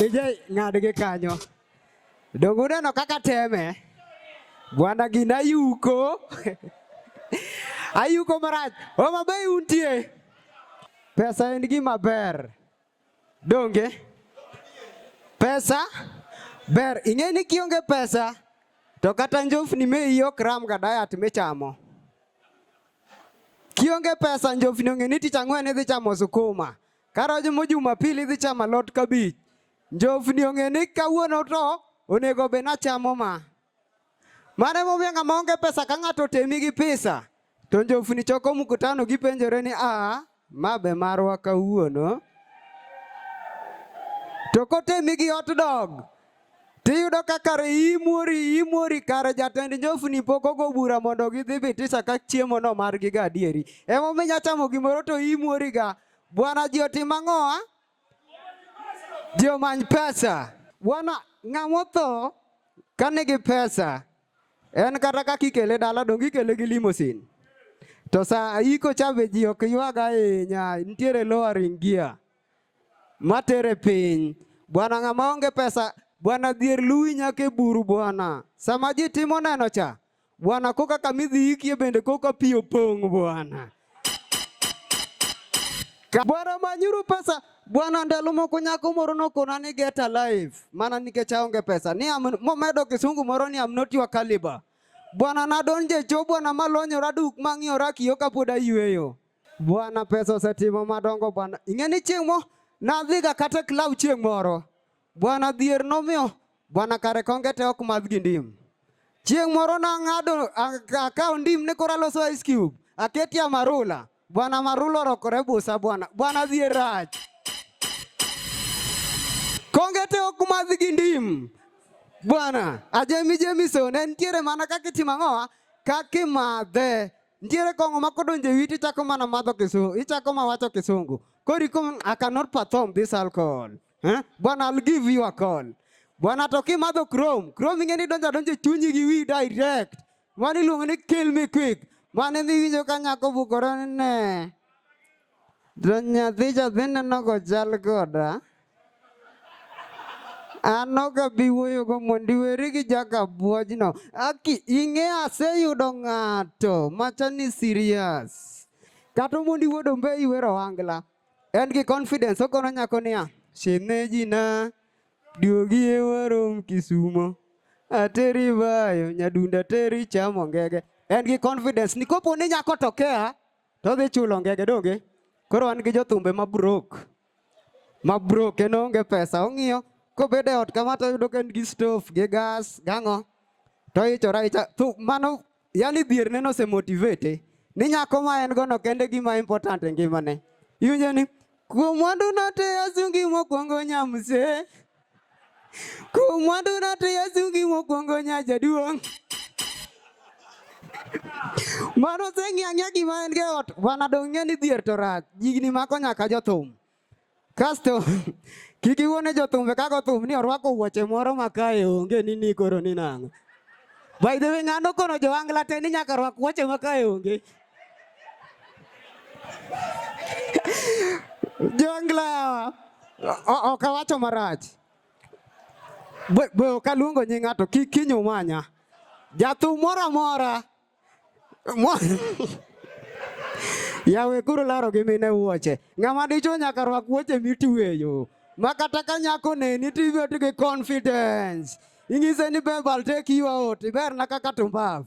DJ ng'ad gi kanyo. Donge uneno kaka teme? Bwana gina yuko. Ayuko marach. Homa Bay untie. Pesa en gima ber. Donge pesa ber, ing'e ni kionge pesa to kata njofni me iyi ok ram ga diet michamo. Kionge pesa njofni ong'e ni tich ang'wen idhi chamo sukuma, karojo mo Jumapili idhi chamo alot kabich. Njofni ong'e ni kawuono to onego be nachamo ma. Mano emomiyo ng'ama onge pesa ka ng'ato otemi gi pesa to njofni choko mkutano gipenjore ni aa ma be marwa kawuono. To kotemi gi hot dog tiyudo ka kare imori imori kare jatend njofni pok ogo bura mondo gidhi bitisa ka chiemo no margi ga adieri. Emomiyo inyachamo gimoro to imori ga. Bwana ji otim ang'owa? Ji omany pesa. Bwana, ng'ama otho ka nigi pesa en kata ka kikele dala dong ikele gi limosin. To sa iko cha be ji ok ywag ahinya, nitiere lowering gear matere piny. Bwana ng'ama onge pesa, bwana dhier luwi nyaka e buru bwana. Sama ji timo neno cha, Bwana, koka kamidhi ikie bende koka pi opong' Bwana. Bwana manyuru pesa Bwana, ndalo moko nyako moro nokona ni get alive mana nikech aonge pesa ni momedo kisungu moro ni am not your caliber. Bwana, nadonje cho bwana, malonyora duk mang'iyora kiyo kapod ayueyo. Bwana, pesa osetimo madongo bwana. Ing'e ni chieng' mo nadhiga kata e club chieng' moro Bwana dhier nomiyo bwana kare konge te ok madh gi ndim. Chieng' moro nang'ado akawo ndim ni koro aloso ice cube, aketie amarula. Bwana amarula orokore busa bwana, bwana dhier rach. Konge te ok madh gi ndim. Bwana, ajemi jemi so, ne nitiere mana kaka itimo ang'owa, kaka imadhe. Nitiere kong'o ma kodonjo e witi ichako mana madho kisungu, ichako ma wacho kisungu. Kori kom, I cannot perform this alcohol. Eh? Bwana I'll give you a call. Bwana to kimadho Chrome, Chrome ing'e ni donjo adonjo e chunyi gi wi direct. Mano iluongo ni kill me quick. Mano ema iwinjo ka nyako bukore ni ne. To nyathi cha dhi neno kochal koda. An ok abi wuoyogo mondo iweri gi jakabuojno. Aki ing'e aseyudo ng'ato machal ni serious. Kata mondo iwuodo mbe iwero ohangla. En gi confidence okono nyako niya, shemejina duogi e warom Kisumo ateri bayo nyadunda teri chamo ngege. En gi confidence ni kopo ni nyako to kea to dhi chulo ngege donge. Koro an gi jothumbe ma broke. Ma broke kendo onge pesa ong'iyo kobede ot kama to yudo ka en gi stove gi gas gang'o to ichora icha mano Yaani dhier neno se motivate ni nyako ma en gono kende gima important e ngimane. Iwinjo ni kuom mwandu note asungi mokwongo nyamse. Kuom mwandu note asungi mokwongo nyajaduong'. Mano seng'e ang'e gima en ge ot, bana dong' ng'e ni dhier to rach. Jigni mako nyaka jothum. Kasto kik iwone jothumbe kaka othum ni orwako wuoche moro ma kae onge ni ni koro ni nang'o. By the way, ng'ano kono jo angla te ni nyaka rwak wuoche ma kae onge. jo angla yawa. O- Ok awacho marach. Be be ok aluongo nying ng'ato kik kinyo manya. Jathum moro amora Yawe kuru laro gi mine wuoche. Ng'ama dicho nyaka rwak wuoche mitueyo. Ma kata ka nyako neni to ibet gi confidence. Ing'ise ni babe I'll take you out. Iberna kaka tumbavu.